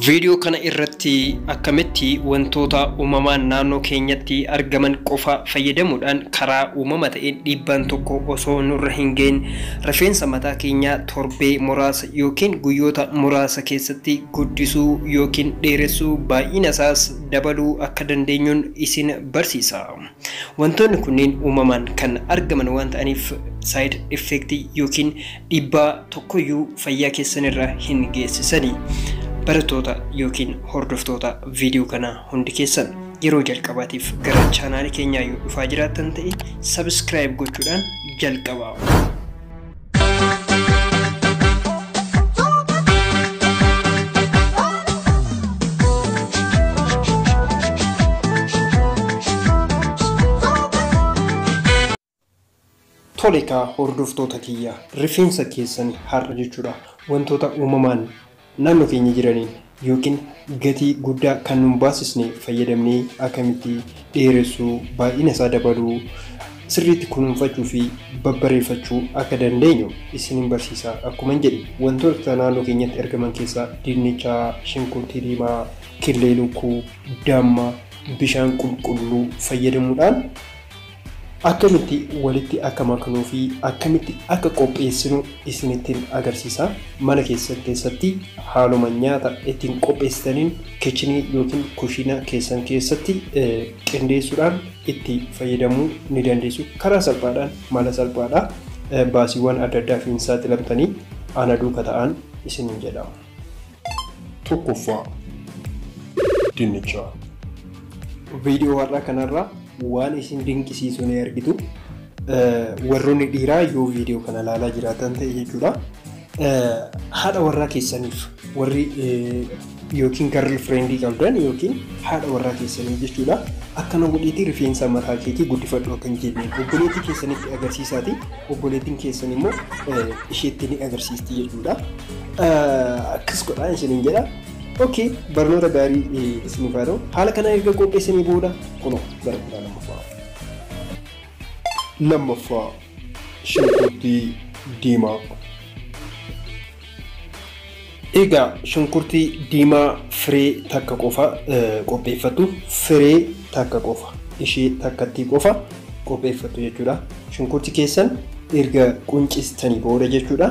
Viidiyoo kana irratti akkamitti wantoota uumamaan naannoo keenyatti argaman qofa fayyadamuudhaan karaa uumama ta'een dhiibbaan tokko osoo nurra hin gahin rifeensa mataa keenyaa torbee muraasa yookiin guyyoota muraasa keessatti guddisuu yookiin dheeressuu baay'ina isaas dabaluu akka dandeenyuun isin barsiisa. Wantoonni kunneen uumamaan kan argaman waan ta'aniif side effect yookiin dhiibbaa tokkoyyuu fayyaa keessan irra hin geessisani. Barattoota yookiin hordoftoota viidiyoo kanaa hundi keessan yeroo jalqabaatiif gara chaanaalii keenyaa yoo dhufaa jiraattan ta'e subscribe gochuudhaan jalqabaa. Tolekaa hordoftoota kiyya rifeensa keessan har'a jechuudha wantoota uumamaan Naannoo keenya jiraniin ykn gatii guddaa kan nun baasisne fayyadamnee akkamitti dheeressuu, baay'ina isaa dabaluu, sirriitti kunuunfachuu fi babbareeffachuu akka dandeenyu isinin barsiisa akkuman jedhe wantoota naannoo keenyatti argaman keessaa dinnicha, shunkurtii diimaa, killee lukkuu, damma, bishaan qulqulluu fayyadamuudhaan, Akkamitti walitti akka maknuu fi akkamitti akka qopheessinu isinittin agarsiisa. Mana keessan keessatti haaluma nyaata ittiin qopheessitaniin kichinii yookiin kushiina keessan keessatti qindeessuudhaan itti fayyadamuu ni dandeessu. Karaa salphaadhaan mala salphaadha. Baasiiwwan adda addaaf hin saaxilamtanii ana duuka ta'aan isiniin jedha. Tokkoffaa dinnichaa. Viidiyoo har'aa kanarraa waan isin dinqisiisu ni argitu. Warroonni dhiiraa yoo viidiyoo kana ilaalaa jiraatan ta'e jechuudha. Haadha warraa keessaniif warri yookiin garri fireendii qabdan yookiin haadha warraa keessanii jechuudha. Akkana godhiitii rifeensa mataa keetii guddifadhu akka hin jenneen obboleettii keessanitti agarsiisaati. Obboleettiin keessan immoo isheetti ni agarsiisti jechuudha. akkas godhaa isiniin jedha. Ookee barnoota gaarii isiniif haa ta'u. Haala kana erga qopheessanii booda kunoo gara kutaa lammaffaa. Lammaffaa shunkurtii diimaa. Egaa shunkurtii diimaa firee takka qofa qopheeffattu firee takka qofa ishee takkattii qofa qopheeffattu jechuudha. Shunkurtii keessan erga quncistanii booda jechuudha.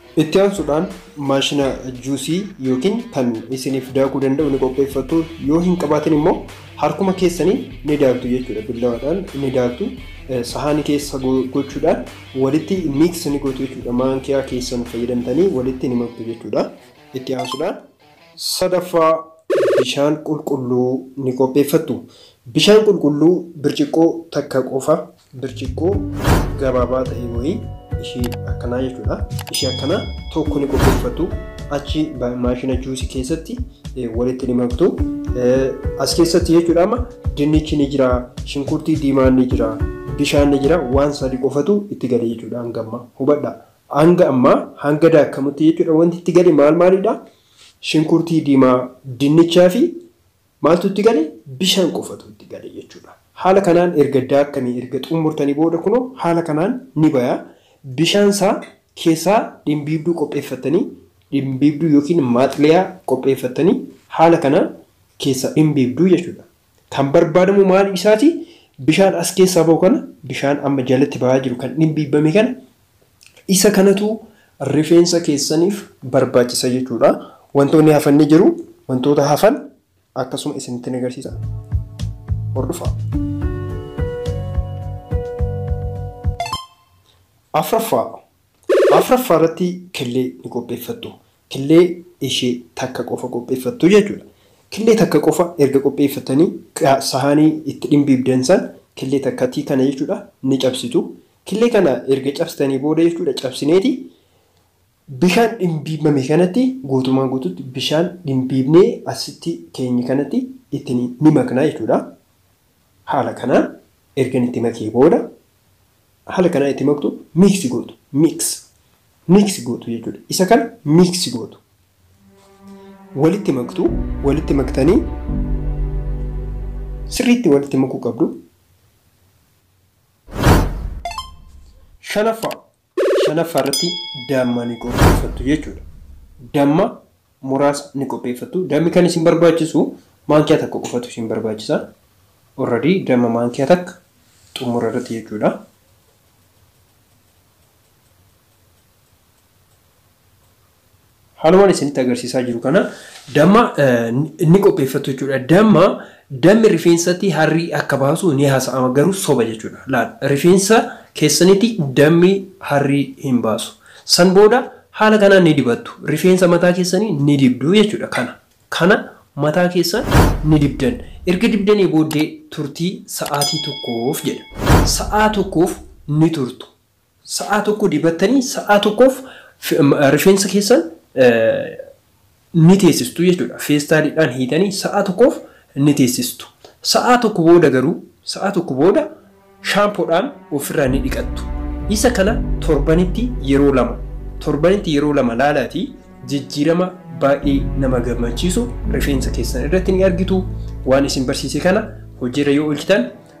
Itti aansuudhaan maashina juusii yookiin kan isiniif daakuu danda'u ni qopheeffattu. Yoo hin qabaatin immoo harkuma keessaniin ni daaktu jechuudha. Billawaadhaan ni daaktu. Sahaani keessa gochuudhaan walitti miix ni gootu jechuudha. Maankiyaa keessan fayyadamtanii walitti ni maktu jechuudha. Itti aansuudhaan sadaffaa bishaan qulqulluu ni qopheeffattu. Bishaan qulqulluu birciqqoo takka qofa Birciqqoo gabaabaa ta'e wayii ishii akkanaa jechuudha. Ishii akkanaa tokko ni qopheeffatu. Achi maashina juusii keessatti walitti ni maktu. As keessatti jechuudha amma dinnichi ni jira, shunkurtii diimaan ni jira, bishaan ni jira, waan sadi qofatu itti gale jechuudha hanga ammaa. Hubadha. Hanga ammaa hanga daakamutti jechuudha wanti itti gale maal maalidha? Shunkurtii diimaa, dinnichaa fi Maaltu itti gale? Bishaan qofatu itti gale jechuudha. Haala kanaan erga daakkanii erga xummurtanii booda kunoo haala kanaan ni baya. Bishaan isaa keessaa dhimbiibduu qopheeffattanii dhimbiibduu yookiin maaxliyaa qopheeffattanii haala kanaan keessaa dhimbiibduu jechuudha. Kan barbaadamu maal isaati? Bishaan as keessaa bahu kana bishaan amma jalatti bahaa jiru kan dhimbiibbame kana Isa kanatu rifeensa keessaniif barbaachisa jechuudha. Wantoonni hafan ni jiru. Wantoota hafan akkasuma isinitti ni agarsiisa. Hordofaa. Afraffaa. Afraffaa irratti kellee ni qopheeffattu. killee ishee takka qofa qopheeffattu jechuudha. Killee takka qofa erga qopheeffattanii sahaanii itti dhimbiibdan san killee takkatii kana jechuudha ni cabsitu. Killee kana erga cabsitanii booda jechuudha cabsineeti bishaan dhimbiibame kanatti guutumaan guututti bishaan dhimbiibnee asitti keenye kanatti itti ni makna jechuudha. Haala kanaan ergan itti makee booda haala kanaan itti maktu miiksi gootu. Mix mix gootu jechuudha. Isa kan mix gootu. Walitti maktu, walitti maktanii sirriitti walitti makuu qabdu. Shanaffaa, shanaffaa irratti damma ni qopheeffattu jechuudha. Damma muraasa ni qopheeffattu. Dammi kan isin barbaachisu maankiyaa takka qofatu isin barbaachisa. Already damma maankiyaa takka xumura irratti jechuudha. Haalumaan isinitti agarsiisaa jiru kana damma ni qopheeffattu jechuudha. Damma dammi rifeensatti harrii akka baasu ni haasa'ama garuu soba jechuudha. Laal rifeensa keessanitti dammi harrii hin baasu. San booda haala kanaan ni dibattu. Rifeensa mataa keessanii ni dibdu jechuudha kana. Kana mataa keessan ni dibdan. Erga dibdanii booddee turtii sa'aatii tokkoof jedha. Sa'aa tokkoof ni turtu. Sa'aa tokko dibattanii sa'aa tokkoof rifeensa keessan ni teessistu jechuudha. Feestaaliidhaan hiitanii sa'aa tokkoof ni teessistu. Sa'aa tokko booda garuu sa'aa tokko booda shaampoodhaan ofirraa ni dhiqattu. Isa kana torbanitti yeroo lama torbanitti yeroo lama laalaatii jijjiirama baay'ee nama gammachiisu rifeensa keessan irratti ni argitu. Waan isin barsiise kana hojiirra yoo oolchitan